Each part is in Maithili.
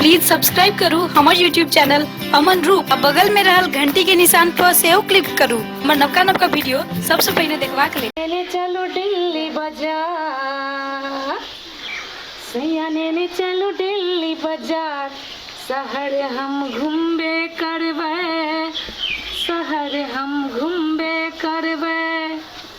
प्लीज सब्सक्राइब करू हमर यूट्यूब चैनल अमन रूप आ बगल में रहल घंटी के निशान पर सेहो क्लिक करू हमर नवका नवका वीडियो सबसे पहले देखबाक लेल लेने चलो दिल्ली बाजार सैया लेने चलो दिल्ली बाजार शहर हम घूमबे करबै शहर हम घूमबे करबै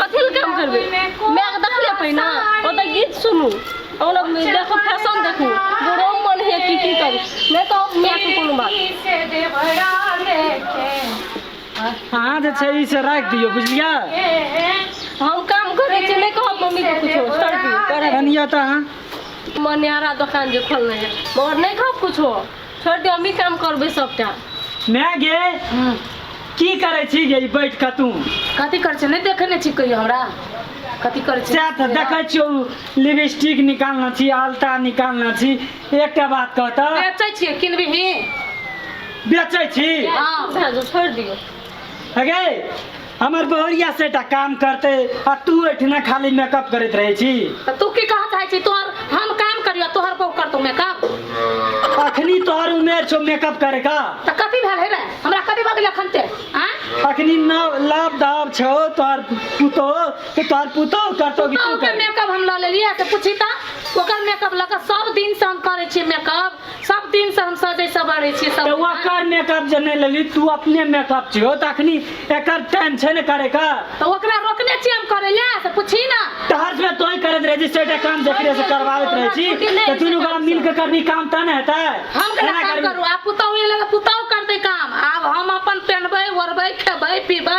कथी लए काम करबै मायके देखले पहिने ओतऽ गीत सुनू ओना देखू फैशन देखू बुढ़ो मन होइए की की करू नहि तऽ मायके कोनो बात अहाँ जे छै ई से राखि दियौ बुझलियै हम काम करै छी नहि कहब मम्मीके किछो छोड़ दियौ कनिया तऽ अहाँ मनिहारा दोकान जे खोलने है मगर नहि कहब किछो छोड़ दे हमी काम करबे सबटा माय गे की करै छी गे ई बैठ कऽ तू कथी करै छै नहि देखै नहि छी कहियो हमरा कथी करै छै सएह तऽ देखै छियौ लिपस्टिक निकालने छी आलता निकालने छी एकटा बात कह तऽ बेचै छियै किनबिही बेचै छी हाँ छोड़ दियो अगे हमर बहुरिया से टा काम करते आ तू एठना खाली मेकअप करत रहे छी तऽ तू की कहत है छी तोहर हम काम करियो तोहर बहू करतो मेकअप अखनी तोहर उमेर छो मेकअप करे का तऽ कथी भेल है रे हमरा कथी भऽ गेल एखन ते आँय अखनी नाव लाभ दाब छो तोहर पुतो तो तोहर पुतो करतो कि तू ओकर कर मेकअप हम लऽ लेलियै तऽ पूछी तऽ ओकर मेकअप लऽ कऽ सब दिन से हम करै छियै मेकअप सब दिन से हम सजे सवारे छी सब वो कर मेकअप जे नहीं लेली तू अपने मेकअप छियो त अखनी एकर टाइम छै ने करे का तो ओकरा रोकने छी हम करे ले से पूछी ना तहर से तोय करत रहे जिस सेटा काम देख रहे से करवावत रहे छी त तू लोग मिल के करनी काम त न हेतै हम केना काम करू आ पुतौ एले पुतौ करते काम आब हम अपन पहनबे ओरबे खेबे पीबे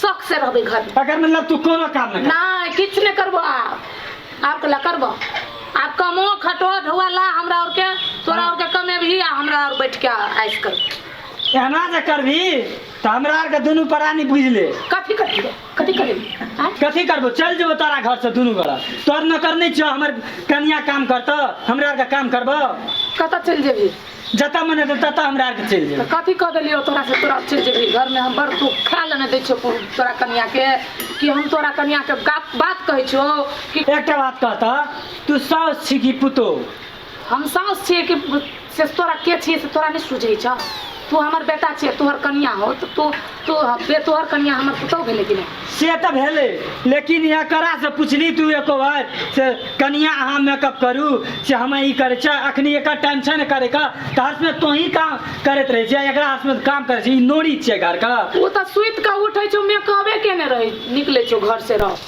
शौक से रहबै घर में अगर मतलब तू कोनो काम नहीं नहीं किछ नहीं करबो आप आप कला करबो आप कमो खटो ढोआ ला हमरा और के तोरा और के कमे भी आ हमरा और बैठ के आइस कर कर एहना जे करबी तो हमरा आर के दुनू प्राणी बुझ ले कथी कथी कथी करे कथी करबो चल जेबो तारा घर से दुनू गोरा तोर नौकर नहीं छो हमर कनिया काम करतो हमरा आर के काम करबो कत चल जेबी जतऽ मन हेतै ततऽ हमरा आरके चलि तऽ जेबै कथी कऽ देलियौ तोरा से तोरा चलि जेबही घरमे हम बड़ तू खाय लए नहि दै छियौ को- तोरा कनियाके कि हम तोरा कनियाके गा- बात कहै छौ कि एकटा बात कह तऽ तू साउस छी कि पुतोह हम साउस छियै कि से तोरा के छियै से तोरा नहि सूझै छौ तू हमर बेटा छियै तोहर कनिया हो तऽ तू तो बे तोहर कनिया हमर पुतौ भेलै कि नहि से तऽ भेलै लेकिन एकरा से पुछली तू एको बार से कनिया अहाँ मेकअप करू से हमे ई करै छै अखनी एकर टाइम छै ने करे का तऽ हसमे तो ही काम करैत रहै छै एकरा हसमे काम करै छै ई नोरी छियै घर का ओ तऽ सुति कऽ उठै छौ मेकअपे केने रहै निकलै छौ घर से रह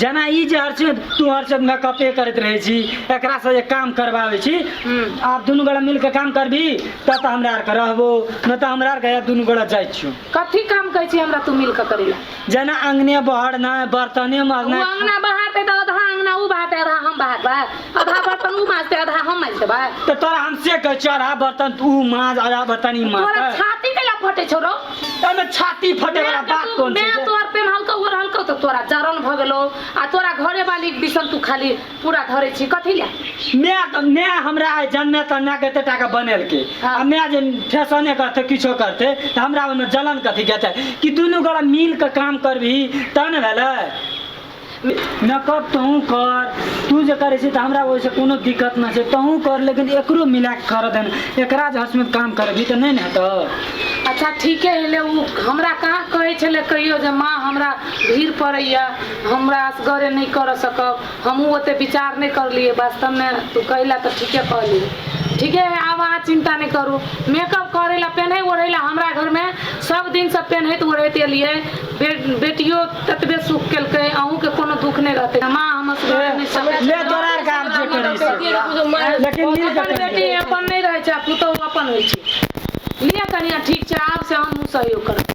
जेना ई जे हर चीज तू हर चीज मेकअपे करैत रहै छी एकरा से जे काम करबाबै छी आब दुनू गोरा मिल के काम करबी तब तऽ हमरा आर के रहबो नहि तऽ हमरा आर के दुनू गोरा जाइ छियो कथी काम कहै छी हमरा तू मिल के करै लए जेना अंगने बहर ने बर्तने ओ मरना अंगना बहाते तऽ आधा अंगना ऊ बहाते आधा हम बहातबै आधा बर्तन ऊ माजते आधा हम माजि देबै तऽ तोरा हम से कहै छियो आधा बर्तन तू माज आधा बर्तन ई माज तोरा छाती कैला फटे छौ रौ तमे छाती फटे वाला बात कौन छै मैं तोर पे हल्का उर हल्का तो तोरा जरन भ गेलो आ तोरा घरे वाली बिसन तू खाली पूरा धरे छी कथि ले मैं तो मैं हमरा आइ जन्मे त मैं कहते टाका बनेल के हाँ। आ मैं जे फैशने करते किछो करते त हमरा ओमे जलन कथी के छै कि दुनू गोरा मिल के काम करबी तन भेलै मेकअप तोहूँ कर। तू जे करै छी तऽ हमरा ओहि से कोनो दिक्कत नहि छै। तोहूँ कर लेकिन एकरो मिला के करऽ दे ने। एकरा जे हसमैत काम करेबही तऽ नहि ने हेतौ। अच्छा ठीके हेले ऊ हमरा कहाँ कहै छेले कहियो जे माँ हमरा भीड़ पड़ैए हमरा असगरे नहि करऽ सकब। हमहूँ ओते विचार नहि करलियै वास्तव मे तू कहेले तऽ ठीके कहली। ठीके है आब अहाँ चिन्ता नहि करू मेकअप करै ले पेन्है ओढ़ै ले हमरा घर मे सब दिन से पेन्हैत ओढ़ैत एलियै बे बेटियो ततबे सुख केलकै अहूँ के कोनो दुख नहि रहतै माँ हम असगर नहि सकैत ले तोरा आर काम जे करै से लेकिन मिल अपन बेटी अपन नहि रहै छै आ पुतहु अपन होइ छै लिअ कनिया ठीक छै आब से हमहूँ सहयोग करब